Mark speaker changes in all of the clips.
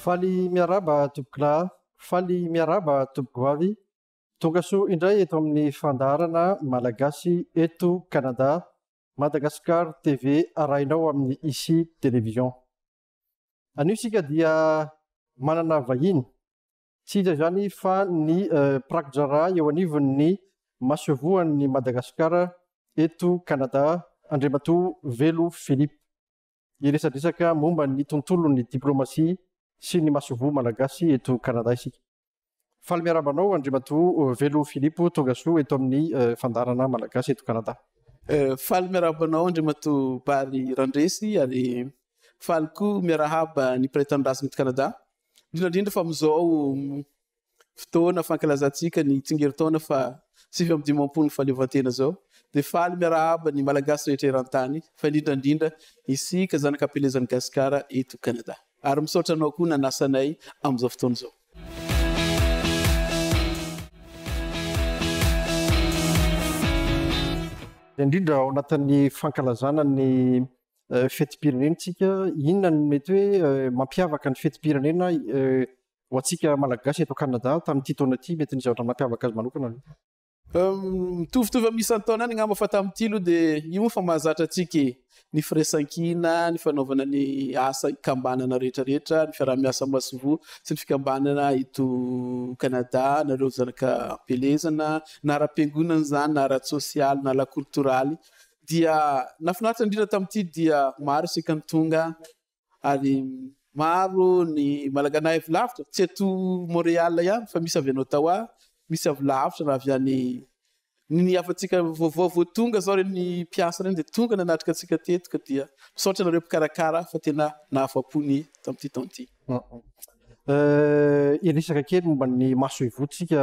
Speaker 1: Faly miarahaba tompokolahy Faly miarahaba Tompogoavy. Tonga soa indray eto amin'ny fandaharana Malagasy eto Canada, Madagascar TV arahinao amin'ny Ici Télévision. Anio isika dia manana vahiny, tsy iza izany fa ny Prakidraharaha eo anivon'ny Masoivohon'i Madagasikara eto Canada, Andriamatoa Velo Philippe. Ny resadresaka momba ny tontolon'ny diplomasia sy ny masoivoho malagasy eto Canada isika. Faly miarahaba anao Andriamatoa Velo Philippe, tongasoa eto amin'ny Fandaharana Malagasy eto Canada. Faly
Speaker 2: miarahaba anao Andriamatoa Bary Randresy ary faly koa miarahaba ny mpiray tanindrazana eto Canada, indrindra indrindra fa amin'izao fotoana fankalazantsika ny tsingerintaona faha sivy amby dimampolo ny fahaleovantena izao dia faly miarahaba ny Malagasy rehetra eran-tany fa indrindra indrindra isika zanaka am-pelezan'i Gasikara eto Kanada. Ary misaotra anao koa nanasa anay amin'izao fotoana izao.
Speaker 1: Indrindra ao anatin'ny fankalazana ny fetim-pirenentsika, inona no mety hoe mampiavaka ny fetim-pirenena Ho antsika Malagasy eto Canada, tamin'ity taona ity, mety nisy zavatra nampiavaka azy manokana ve?
Speaker 2: Mitovitovy amin'ny isan-taona any angamba fa tamin'ity aloha dia io moa efa mahazatra antsika e! Ny firaisankina, ny fanaovana ny asa ikambanana rehetrarehetra, ny fiaraha-miasa masoivoho sy ny fikambanana eto Canada, na ireo zanaka am-pielezana, na ara-piangonana izany, na ara-tsosialy, na lakoltoraly. Dia nahafinaritra indrindra tamin'ity dia maro isika ny tonga ary maro ny malagana avy lavitra tsy eto Montréal ihany fa misy avy any Ottawa, misy avy lavitra raha avy any ny hafantsika vaovao vao tonga zao reny mpiasa reny dia tonga nanatrika antsika teto ka dia misaotra anareo mpikarakara fa tena nahafapo ny tamin'ity taona ity. Hiresaka
Speaker 1: kely momba ny masoivohontsika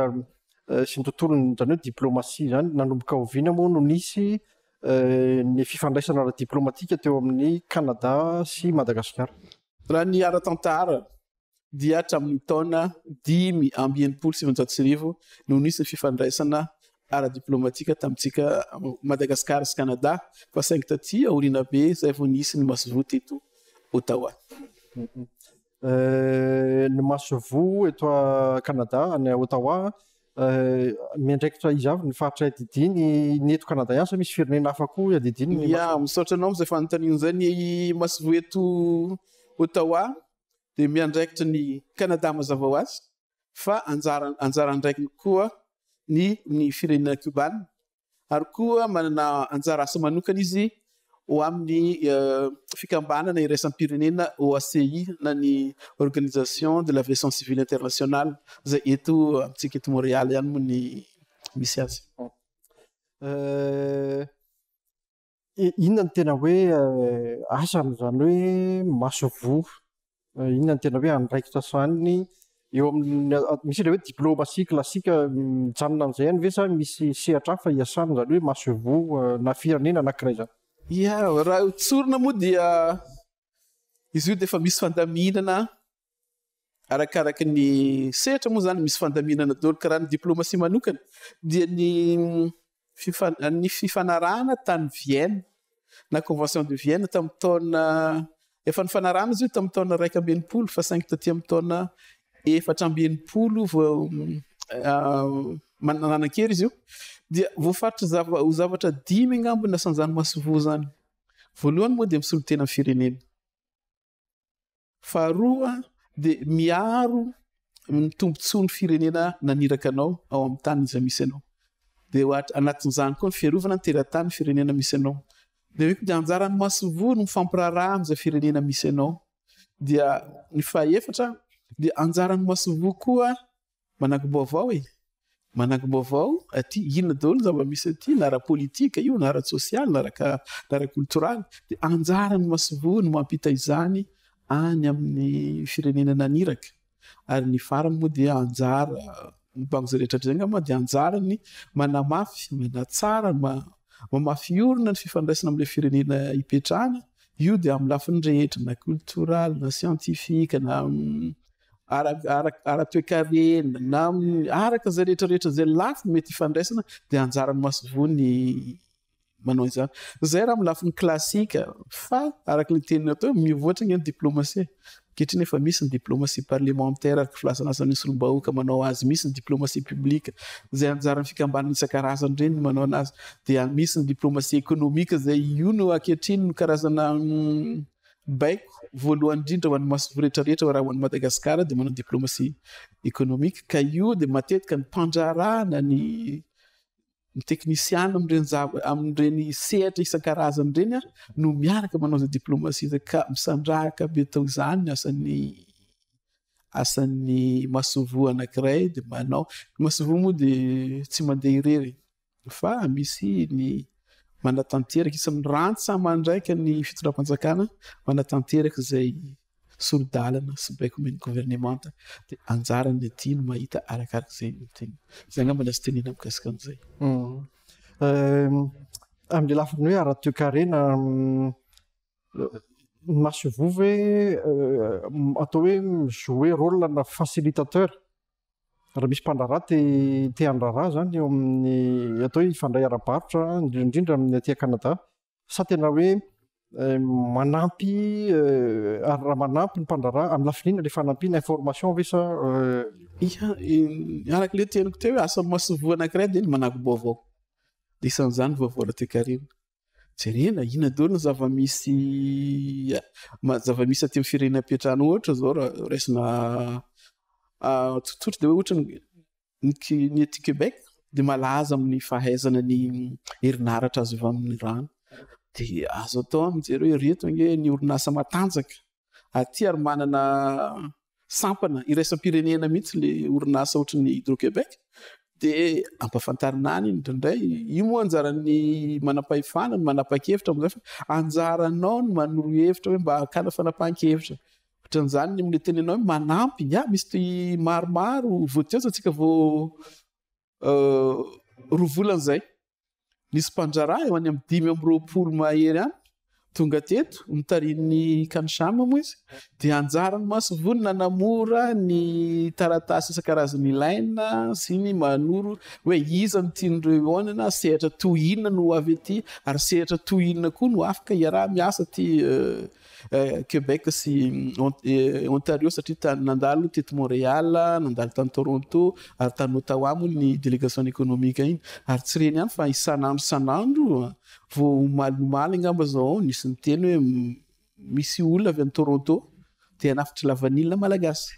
Speaker 1: sy ny tontolony izany hoe diplomasia izany, nanomboka oviana moa no nisy ny fifandraisana ara-diplaomatika teo amin'i Kanada sy Madagasikara. Raha ny
Speaker 2: ara-tantara dia hatramin'ny taona dimy amby enimpolo sy sivinjato sy arivo no nisy ny fifandraisana ara-diplaomatika tamintsika Madagasikara sy Kanada fa saingy taty aoriana be izay vao nisy ny masoivoho teto Ottawa.
Speaker 1: ny masoivoho eto a Canada any a Ottawa miandraikitra iza avy ny faritra iadidiany ny eto Canada ihany sa misy firenena hafa koa iadidiany ny masoivoho? Misaotra anao amin'izay
Speaker 2: fanontaniana izay. Ny masoivoho eto Ottawa dia miandraikitra ny Canada mazava ho azy fa anjara anjara andraikiny koa ny ny firenena Cuba ary koa manana anjara asa manokana izy ho amin'ny fikambanana iraisam-pirenena OACI na ny Organisation de l'Aviation Civile Internationale izay eto amintsika eto Montréal ihany moa ny misy azy.
Speaker 1: Inona no tena hoe asany, izany hoe masoivoho? Inona no tena hoe andraikitra sahaniny eo amin'ny, misy ilay hoe diplomatie classique mijanona amin'izay ihany ve sa misy sehatra hafa iasany, izany hoe masoivoho na firenena anankiray izany? Ia, raha
Speaker 2: tsorina moa dia izy io dia efa misy fandaminana Arakaraka ny sehatra moa izany misy fandaminana daholo ka raha ny diplomasia manokana dia ny ny fifanarahana tany Vienne na convention de Vienne tamin'ny taona efa nifanarahana izy io tamin'ny taona iraika amby enimpolo fa saingy taty amin'ny taona efatra amby enimpolo vao manananan-kery izy io dia voafaritra zava ho zavatra dimy angambony na sanjany masovoa izany voalohany moa dia misolo tena amin'ny firenena. Faharoa dia miaro ny tombontsoan'ny firenena naniraka anao ao amin'ny tany izay misy anao. Dia anatin'izany koa ny fiarovana ny teratany firenena misy anao. Dia eo koa dia anjaran'ny masoivoho ny mifampiraharaha amin'izay firenena misy anao. Dia ny fahaefatra dia anjaran'ny masoivoho koa Manakim-baovao e! Manakim-baovao aty, inona daholo ny zava-misy aty, na ara-politika io, na ara-tsosialy, na ara-koltoraly. Dia anjaran'ny masoivoho ny mampita izany any amin'ny firenena naniraka. Ary ny farany moa dia anjara, ny bango izay rehetra hatr'izay angamba dia anjarany manamafy, manatsara, mamafy orina ny fifandraisana amin'ilay firenena ipetrahana. Io dia amin'ny lafiny rehetra, na koltoraly, na siantifika, na ara-toekarena na araka izay rehetra rehetra izay lafiny mety hifandraisana dia anjaran'ny masoivoho ny manao izany. Izay raha amin'ny lafiny klasika fa araka ny teniny atao mivoatra ny diplomasia. Ankehitriny efa misy ny diplomasia parlemantera araka filazana asan'ny solombahooka manao azy, misy ny diplomasia publika izay anjaran'ny fikambanana isan-karazany ireny manao anazy dia misy ny diplomasia ekonomika izay io no ankehitriny no karazana mm, Baiko voalohany indrindra ho an'ny masoivoho rehetra rehetra raha ho an'i Madagasikara dia manao diplomacy économique ka io dia matetika ny mpandraharahana ny ny teknisiana amin'ireny zava amin'ireny sehatra isan-karazany ireny no miaraka manao izay diplomacy izay ka misandrahaka be tao izany ny asan'ny asan'ny masoivoho anankiray dia manao ny masoivoho moa dia tsy mandeha irery. fa misy ny manatanteraka isan'ny rantsa-mandraika ny fitondram-panjakana manatanteraka izay sori-dalana sy baiko omen'ny governemanta dia anjarany aty no mahita arakaraka izay teny izay angamba ny azo tenena mikasika an'izay hmm.
Speaker 1: euh, amin'ny lafiny hoe ara-toekarena hmm, ny masovovo hoe euh, atao hoe jouer rôle na facilitateur Raha misy mpandraharaha te te handraharaha zany eo amin'ny atao hoe hifandray ara-barotra indrindra indrindra amin'ny aty Canada sa tena hoe manampy ary raha manampy ny mpandraharaha amin'ny lafiny inona ilay fanampiana information ve sa Ia,
Speaker 2: araka ilay teniko teo hoe asa masoivoho anankiray dia ny manago-baovao. Dia isan'izany vaovao ara-toekarena. Jerena inona daholo ny zava-misy zava-misy aty amin'ny firenena am-piantrano ohatra izao raha raisina tsotsotra dia hoe ohatra ny aty Québec dia malaza amin'ny fahaizana ny herinaratra azo avy amin'ny rano dia azo atao mijery hoe ireto ange ny orinasa matanjaka. aty ary manana sampana iraisam-pirenena mihitsy le orinasa ohatry ny Hydro-Québec dia ampafantarina any iny indraindray. Io moa anjaran'ny manam-pahefana, ny manapa-kevitra amin'izay fa anjaranao ny manoro hevitra hoe mba hakana fanapahan-kevitra. Ohatran'izany ny amin'ny tenenao hoe manampy, ah misy toy maromaro, voatezo antsika vao roa volana izay, nisy mpandraharaha eo any amin'ny dimy amby roapolo mahery any tonga teto nitarihin'ny kanishama moa izy dia anjaran'ny masovony nanamora ny taratasy isan-karazany ilaina sy ny manoro hoe iza ny tian'ireo eo anana sehatra toy inona no avy aty ary sehatra toy inona koa no afaka iaraha-miasa aty euh, Québec sy Ontario satria tany nandalo teto Montréal, nandalo tany Toronto ary tany Ottawa moa ny délégation économique iny ary tsy reny ihany fa isan'andro isan'andro vao omaly omaly angamba izao nisy niteny hoe misy olona avy any Toronto te hanafitra lavanila malagasy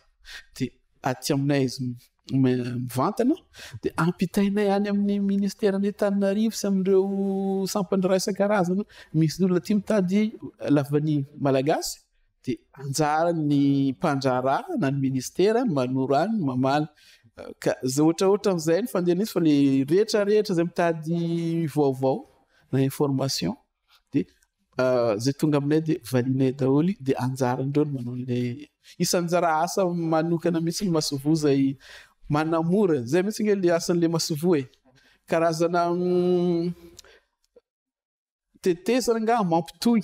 Speaker 2: de aty aminay izy mivantana dia ampitainay any amin'ny ministeran'ny Antananarivo sy amin'ireo sampandraha isan-karazany misy olona tia mitady lavany malagasy dia anjaran'ny mpandraharaha na ny ministera ny manoro any ny mamaly ka zay ohatraohatra an'izay ny fandehan'izy fa le rehetra rehetra izay mitady vaovao na information de zay tonga aminay de valinay daholo de anjaran'ireo ny manao le isan'ny anjara asa manokana mihitsy ny masoivoho zay manamora zay mihitsy nge le asan'le masoivoho e karazana tetezana nga mampitohy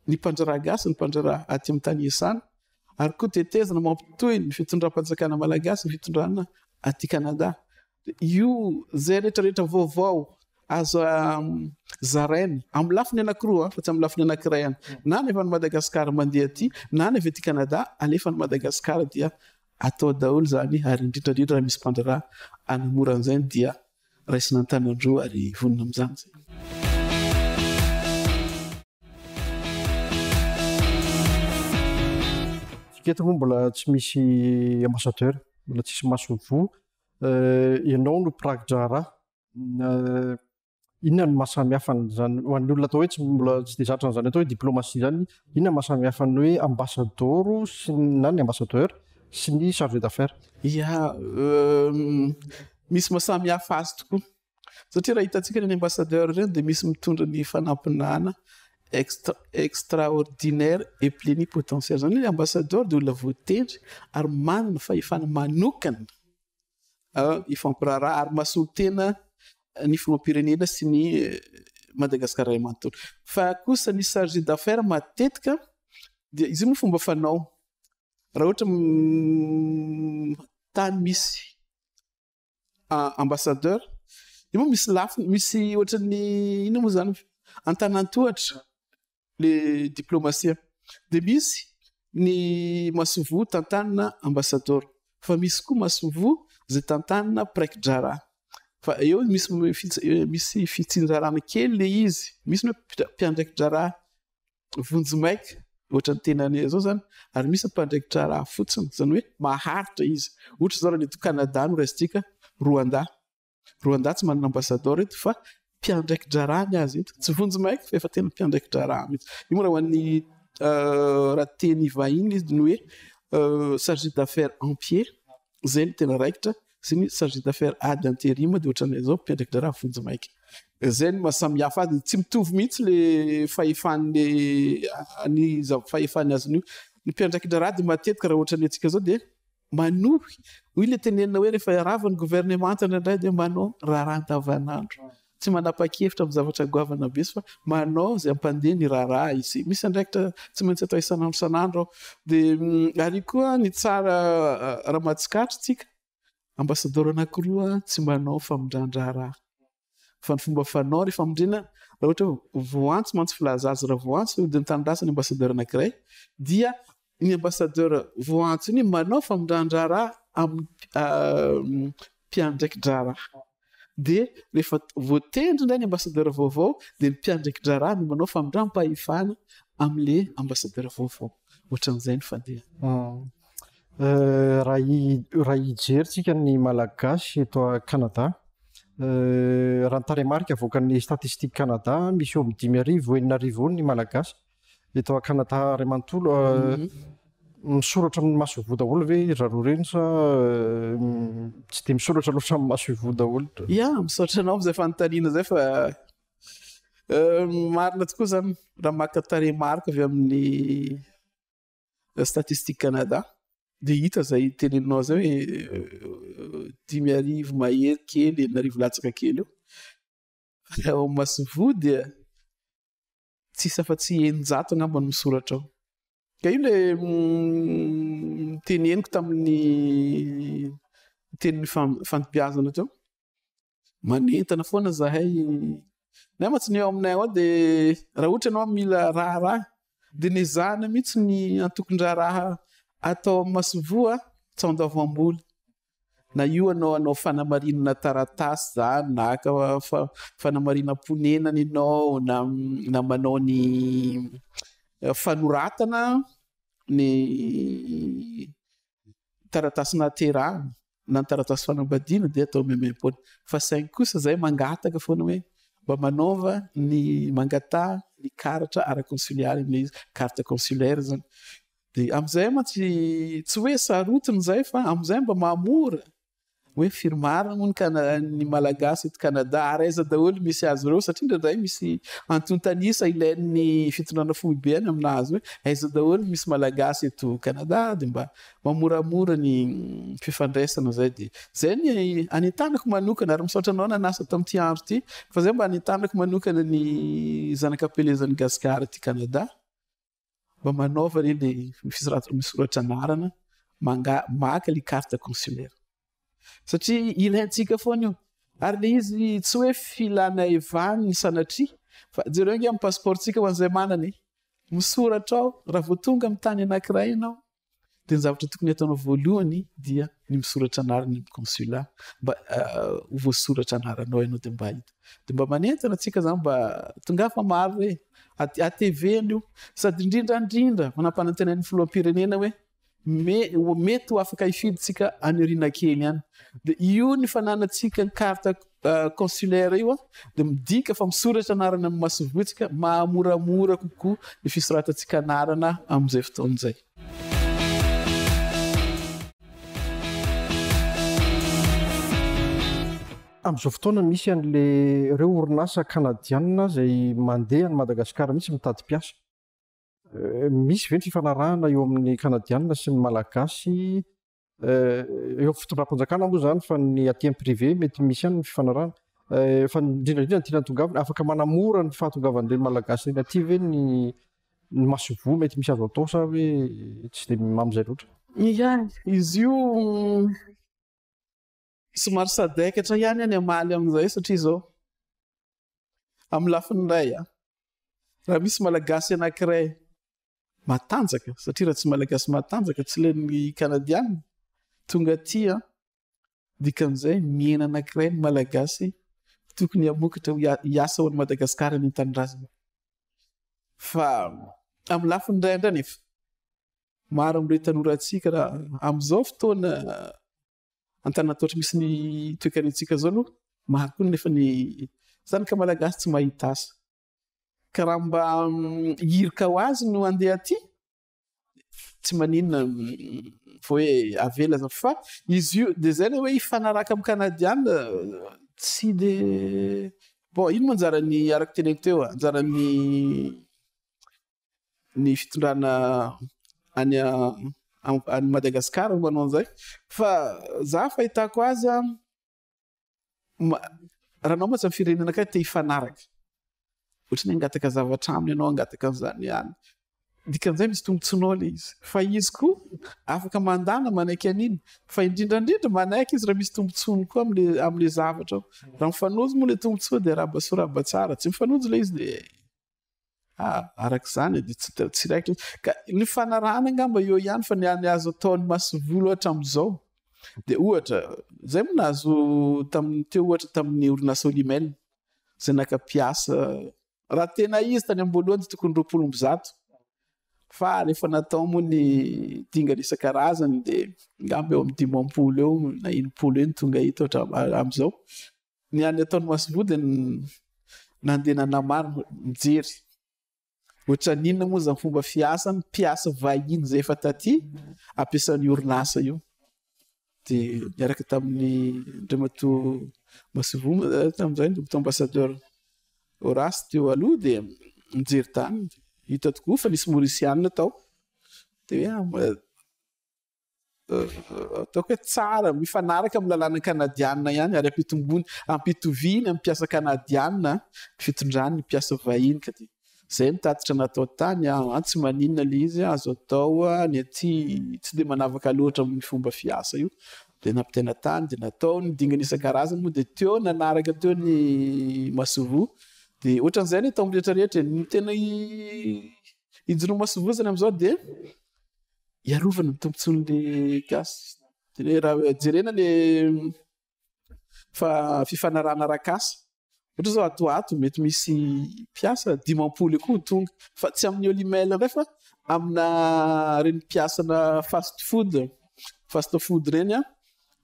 Speaker 2: ny mpandraharaha gasy ny mpandraharaha aty amin'ny tany iasana ary koa tetezana mampitohy ny fitondram-panjakana malagasy ny fitondrana aty Canada Io izay rehetra rehetra vaovao azo zaraina amin'ny lafiny anankiroa fa tsy amin'ny lafiny anankiray ihany. Na ny avy any Madagasikara mandeha aty, na ny avy aty Kanada alefa any Madagasikara dia atao daholo izany ary indrindra indrindra raha misy mpandraharaha hanamora an'izay dia raisina an-tanan-droa ary vonona amin'izany izay.
Speaker 1: Eto moa mbola tsy misy ambassadeur, mbola tsisy maso voa. Ianao no mpiraki-draharaha. Inona no maha samy hafa an'izany? Ho an'ny olona atao hoe tsy mbola tsy dia zatra an'izany atao hoe diplomasia izany, inona maha samy hafa ny hoe ambasadaoro sy na ny ambassadeur sy ny chargé d'affaires? Ia,
Speaker 2: misy maha samy hafa azy tokoa. satria raha hitantsika ireny ambassadeur ireny dia misy mitondra ny fanampinana extra extraordinaire et plénipotentiaire zany hoe ambassadeur dia olona voatendry ary manana fahefana manokana hifampiraharaha ary mahasolotena ny filoham-pirenena sy ny Madagascar ray manontolo fa kosa ny chargé d'affaires matetika dia izy io moa fomba fanao raha ohatra tany misy Ah, ambassadeur, io moa misy lafiny, misy ohatran'ny inona moa zany antanantohatra le diplomasia. De misy ny masoivoho tantanina ambassadeur, fa misy koa masoivoho izay tantanina praiki-draharaha. Fa eo misy misy fitsinjarana kely le izy, misy ny hoe mpiandraiki-draharaha vonjimaika ohatra ny tenany izao zany ary misy mpandraikitra raha fotsiny zany hoe maharitra izy ohatra izao raha ny eto Canada no raisintsika Rwanda Rwanda tsy manana ambassadeur eto fa mpiandraiki-draharaha ny azy eto tsy vonjimaika fa efa tena mpiandraiki-draharaha mihitsy io moa raha ho an'ny euh, raha teny vahiny izy ny hoe euh, chargé d'affaires en pied Zay no tena raikitra sy ny chargé d'affaires ad interim dia ohatran'ilay zao mpiandradrara vonjimaika. Zay no mahasamihafa azy, tsy mitovy mihitsy le fahefan'ny ny fahefan'ny azony io. Ny mpiandradrara dia matetika raha ohatran'ny antsika zao dia manohy, hoy le tenenina hoe rehefa iarava ny governemanta indraindray dia manao raharaha andavanandro. Tsy manapa-kevitra amin'ny zavatra goavana be izy fa manao izay hampandeha ny raharaha izy. Misy andraikitra tsy maintsy atao isan'andro isan'andro ao. Dia ary koa ny tsara raha mahatsikaritra tsika, ambasadaoro anankiroa tsy manao famindran-draharaha. Fa ny fomba fanao ny famindrina, raha ohatra hoe voantso mantsy filaza azy, raha voantso dia mitandràsa ny ambasadaoro anankiray dia ny ambassadeur vao antso iny manao famindran-draharaha amin'ny mpiandraiki-draharaha dia rehefa voatendry indray ny ambassadeur vaovao dia ny mpiandraiki-draharaha no manao famindram-pahefana amin'ilay ambassadeur vaovao, ohatran'izay ny fandehany.
Speaker 1: Raha hijery tsika ny Malagasy eto Canada, raha ny tarehimarika avoakan'ny Statistiques Canada, misy eo amin'ny dimy arivo enina arivo eo ny Malagasy Eto Canada ray manontolo misoratra amin'ny maso ivoho daholo ve ry zareo ireny sa tsy dia misoratra loatra amin'ny maso ivoho daholo? Ya, misaotra anao amin'izay
Speaker 2: fanontaniana izay fa marina tokoa izany raha maka tarehimarika avy amin'ny Statistiques Canada dia hita izay teneninao izay hoe dimy arivo mahery kely enina arivo latsaka kely eo. Raha ao amin'ny maso ivoho dia Tsisy afa tsy eninjato angamba no misoratra ao. Ka io le niteneniko tamin'ny tenin'ny fandibiazana teo. Manentana foana zahay. Nay mantsy ny eo aminay ao dia raha ohatra ianao mila raharaha dia ny ezahana mihitsy ny antokon-draharaha atao amin'ny masoivoho an, tsy ao an-doha voambola. Na io anao hanao fanamarinana taratasy zany na haka fanamarinam-ponenana ianao na na manao ny fanoratana ny taratasy nahaterahana na ny taratasy fanambadiana dia atao maimaimpoana fa saingy kosa zay mangataka foana hoe mba manaova ny mangataha ny karatra ara-konsiliary ilay izy carte consulaire zany Dia amin'izay mantsy tsy hoe sarotiny izay fa amin'izay mba mahamora hoe firy marina moa ny kana ny malagasy eto Canada ary aiza daholo misy azy ireo satria indraindray misy antontanisa ilain'ny fitondrana foibe any aminazy hoe aiza daholo misy malagasy eto Canada dia mba mamoramora ny fifandraisana izay dia izay ny anentanako manokana ary misaotra anao nanasa tamin'ity andro ity fa izay mba anentanako manokana ny zanakapelezan'i Gasikara ity Canada. Mba manaova re le fisoratana misoratra anarana, manga maka le carte consulaire. Satria ilaintsika foana io. Ary le izy tsy hoe filana evany sanatria fa jereo ange amin'ny passeport-tsika ho an'izay manana e. Misoratra ao raha vao tonga amin'ny tany anankiray ianao. Dia ny zavatra tokony hataonao voalohany dia ny misoratra anarana amin'ny consula mba ah, ho voasoratra anaranao ianao dia mba hita. Dia mba manentana antsika zany mba tonga fa maro hoe ATV io sady indrindra indrindra manampanantenain'ny filoham-pirenena hoe me mety ho afaka hifidintsika any aoriana kely any. Dia io ny fananantsika ny carte consulaire io a, dia midika fa misoratra anarana amin'ny masoivohontsika, mahamoramora kokoa ny fisoratantsika anarana amin'izay fotoana izay.
Speaker 1: Amin'izao fotoana misy an'ilay ireo orinasa kanadianina izay mandeha any Madagasikara mihitsy mitady mpiasa. Misy ve ny fifanarahana eo amin'ny kanadianina sy ny malagasy Eh, eo fitondram-panjakana moa zany fa ny aty am privé mety misy ihany ny fifanarahana eh, fa indrindraindrindra ny tiana tongavina afaka manamora ny fahatongavan'ireny malagasy reny aty ve ny ny masoivoho mety misy azo atao sa hoe tsy de mamizay loatra ihany izy
Speaker 2: io Somary sadaikatra ihany aho ny hamaly amin'izay satria izao, amin'ny lafiny iray, raha misy Malagasy anankiray matanjaka, satria raha tsy Malagasy matanjaka, tsy len'ny Kanadianina, tonga aty an, dikan'izay mihena anankiray ny Malagasy tokony hamokatra hiasa ao an'i Madagasikara any an-tanindrazana. Fa amin'ny lafiny iray indray nefa, maro amin'ireo tanorantsika raha amin'izao fotoana Antananarivo ohatry misy ny toekaretsika zao aloha maro koa nefa ny zany ka malagasy tsy mahita asa ka raha mba mm, hirika ho azy no andeha aty tsy maninona mm, hoe avela za fa izy io de zay le hoe hifanaraka amin'ny kanadiana tsy de bon ino manjara ny araky teneko teo anjaran'ny ny fitondrana any any Madagascar no manao an'izay fa za fahitako azy a raha anao mantsy ny firenena akay te hifanaraka ohatra ny hangataka zavatra aminy ianao hangataka an'izany any dikan'izay misy tombotsoanao le izy fa izy koa afaka mandana manaiky an'iny fa indrindra indrindra manaiky izy raha misy tombotsoany koa amle amle zavatra raha mifanojo moa le tombotsoa de araba soa araba tsara tsy mifanojo le izy de araka izany dia tsy tsy raikitra ka ny fanarahana angamba eo ihany fa ny any azo ataon'ny masivolo hatramin'izao dia ohatra zay moa nahazo tamin'ny teo ohatra tamin'ny orinasa olimel zay naka mpiasa raha tena izy tany am-boalohany dia tokony roapolo amby zato fa rehefa natao moa ny dingana isan-karazany dia angamba eo amin'ny dimampolo eo na enimpolo eo ny tonga eto hatramin'izao Ny any ataon'i Maslow dia nandeha nanamaro mijery ohatran'ny inona moa izany fomba fiasa ny mpiasa vahiny izay efa taty ampiasan'ny orinasa io. Dia niaraka tamin'ny Andriamatoa Maslow eh, tamin'izay ny Docteur Ambassadeur Horace teo aloha dia nijery tany hita tokoa fa nisy Mauricianina tao dia hoe ah, ataoko hoe tsara, mifanaraka amin'ny lalàna kanadianina ihany ary ampitombony, ampitoviany amin'ny mpiasa kanadianina ny fitondrany ny mpiasa vahiny ka dia izay ny tatitra natao tany an, ah, tsy maninona ilay izy an, azo atao an, ny aty tsy dia manavaka loatra amin'ny fomba fiasa io dia nampitaina tany dia natao ny dingana isan-karazany moa dia teo nanaraka teo ny masoivoho dia ohatran'izay ny atao amin'ny rehetra rehetra, ny tena i ijoroa masoivoho zany amin'izao dia Hiarovana ny tombontsoan'ny gasy. Raha jerena le fifanarahana arak'asa, ohatra zao ato ho ato mety misy mpiasa dimampolo eo koa ho tonga, fa tsy amin'ny all email indray fa amina ireny mpiasana fast food, fast food ireny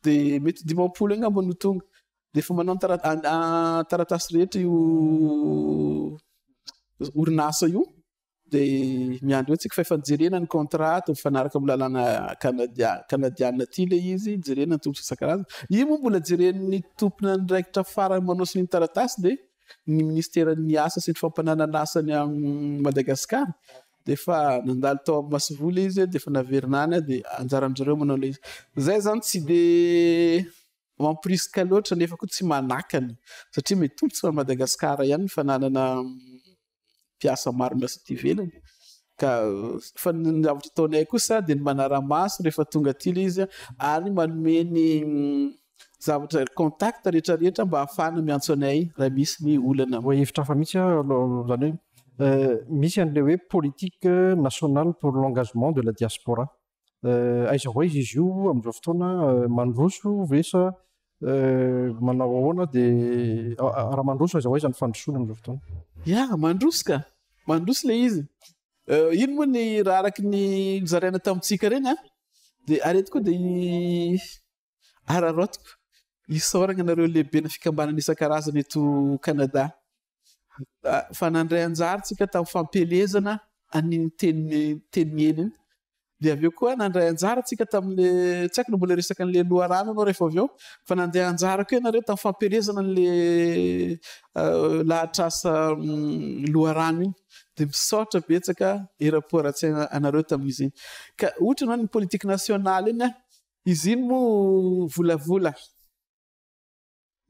Speaker 2: de mety dimampolo eo angamba no tonga de efa manao ny taratasy rehetra io orinasa io. dia miandry hoe tsika fa efa jerena ny contrat ato mifanaraka amin'ny lalàna Canadian- Canadian aty le izy, jerena ny tombontsoa isan-karazany. Io moa mbola jeren'ny tompon'andraikitra farany manao sonia ny taratasy dia ny Ministeran'ny Asa sy ny Fampananan'Asa any amin'i Madagasikara. Dia efa nandalo tao amin'ny masoivoho le izy dia efa naverina any dia anjaran-dry zareo manao le izy. Zay zany tsy dia mamporisika loatra nefa koa tsy manakana satria mitombo tsika Madagasikara ihany ny fananana mpiasa maro miasa aty ivelany ka fa ny zavatra ataonay kosa dia ny manara-maso rehefa tonga aty ilay izy ary manome ny mm, zavatra contact rehetra rehetra mba hahafahana miantso anay raha misy ny olana. Voa hevitra hafa mihitsy aho
Speaker 1: alo- izany hoe eh, misy an'ilay hoe politique nationale pour l'engagement de la diaspora. eh, aiza ho aiza izy io amin'izao fotoana eh, mandroso ve sa eh, manao ahoana dia raha mandroso aiza ho aiza ny fandrosoana amin'izao fotoana ya mandroso ka
Speaker 2: mandroso ilay izy ino moa ny raha araky ny zaraina tamintsika ireny a dia arety koa dia Araraotiko isaoragna anareo lehibena fikambanana isan-karazany eto Canada fa nandray anjara tsika tamin'ny fampielezana an'iny teny teny miely iny dia avy eo koa nandray anjara tsika tamin'le tsy aiko na mbola resaka an'le loharano anao rehefa avy eo fa nandeha anjara koa ianareo tamin'ny fampielezana an'le euh, lahatrasa mm, loharano iny dia misaotra betsaka era-poaratsaina anareo tamin'izy iny ka ohatra ianao ny politique nationale iny a Izy iny moa volavola.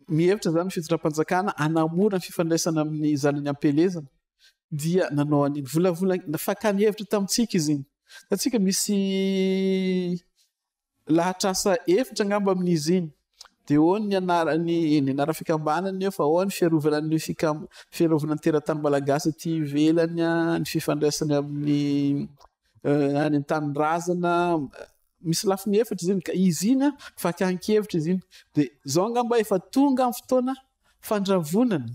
Speaker 2: Mihevitra izany ny fitondram-panjakana hanamora ny fifandraisana amin'ny zanany am-pielezana dia nanao an'iny. Volavola, fakàny hevitra tamintsika izy iny. Hitantsika misy lahatr'asa efitra angamba amin'izy iny. Dia ahoana ny anarany, ny anaran'ny fikambanana eo fa ahoana ny fiarovana ny fikam- fiarovana ny teratany malagasy aty ivelany, ny fifandraisany amin'ny. any an tanindrazana misy lafiny efatra izy iny ka izy iny a fakan-kevitra izy iny de zao angamba efa tonga amin'ny fotoana fandravonana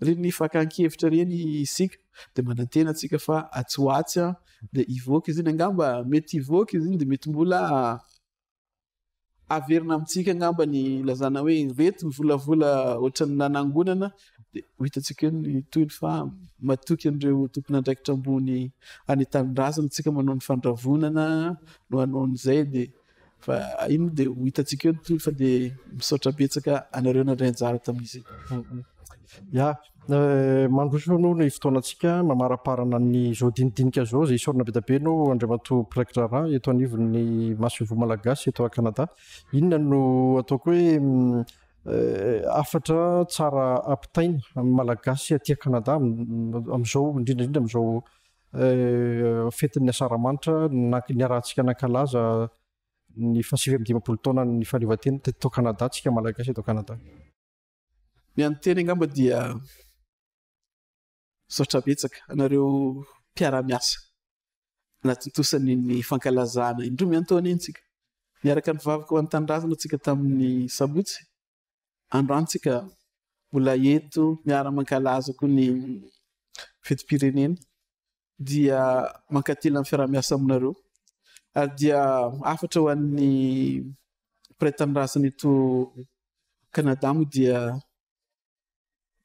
Speaker 2: ireny fakan-kevitra ireny isika de manantena antsika fa atsy ho atsy a de hivoaka izy iny angamba mety hivoaka izy iny de mety mbola averina amintsika angamba ny ilazana hoe ireto ny volavola ohatran'ny nanangonana dia ho hitantsika eo ny tohiny fa matoky an'ireo tompon'andraikitra ambony any tanindrazana tsika manao ny fandravonana no hanao an'izay dia fa iny dia ho hitantsika eo ny tohiny fa dia misaotra betsaka anareo nandray anjara tamin'izy
Speaker 1: ya Mandroso aloha ny fotoanantsika mamaraparana ny izao dinidinika izao izay isaorana be dia be anao Andriamatoa Praikitra Raharaha eto anivon'ny Masoivoho Malagasy eto Canada. Inona no ataoko hoe hafatra tsara ampitaina amin'ny Malagasy aty Canada amin'izao indrindra indrindra amin'izao fetin'ny Asaramanitra niarahantsika nankalaza ny fahasivy amby dimampolo taonan'ny fahaleovantena teto Canada, antsika Malagasy eto Canada.
Speaker 2: Ny an'ny teny angamba dia misaotra betsaka anareo mpiara-miasa nahatontosan' iny fankalazana indroa miantaona iny tsika. Niaraka nivavaka ho an'ny tanindrazana tsika tamin'ny sabotsy. Androany tsika mbola eto miara-mankalaza koa ny fetim-pirenena. dia mankatelina ny fiaraha-miasa aminareo ary dia hafatra ho an'ny mpiray tanindrazana eto Canada moa dia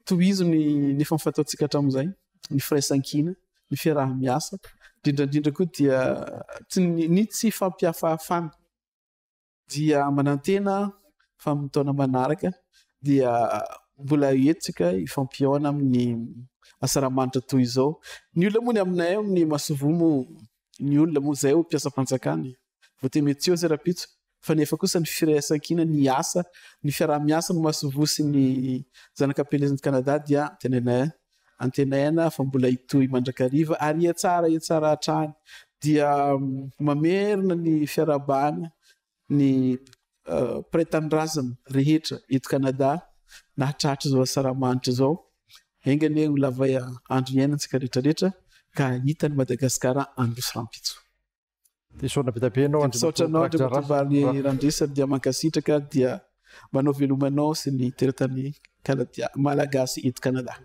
Speaker 2: tohizo ny ny efa fataontsika hatramin'izay, ny firaisankina, ny fiaraha-miasa, indrindra indrindra koa dia tsy ny ny tsy fampihafahafana. dia manantena fa amin'ny taona manaraka dia mbola hetsika ifampihaona amin'ny asaramanitra toy izao ny olona moa ny aminay amin'ny masovoa moa ny olona moa izay ho mpiasam-panjakana e. vote metiozy rapitso fa nefa kosa ny firaisankina ny asa ny fiaraha-miasa ny masovoa sy ny zanakapelezan'i Canada dia tenenay Antenaina fa mbola hitohy mandrakariva ary hihatsara hihatsara hatrany. Dia mamerina ny fiarahabana ny mpiray tanindrazana rehetra eto Canada nahatratra izao asaramanitra izao. Enga anie ho lava andro hiainantsika rehetra rehetra ka hita an'i Madagasikara andros rahampitso. Tesoana
Speaker 1: be dia be ianao Andriamatoa Misaotra anao Andriamatoa
Speaker 2: Valo Randresa dia mankasitraka dia manao veloma anao sy ny teratany Kanadia Malagasy eto Kanada.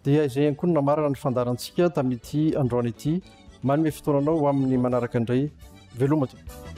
Speaker 1: Dia izay ihany koa no namarana ny fandaharantsika tamin'ity androany ity. Manome fotoana anao ho amin'ny manaraka indray. Veloma tompoko.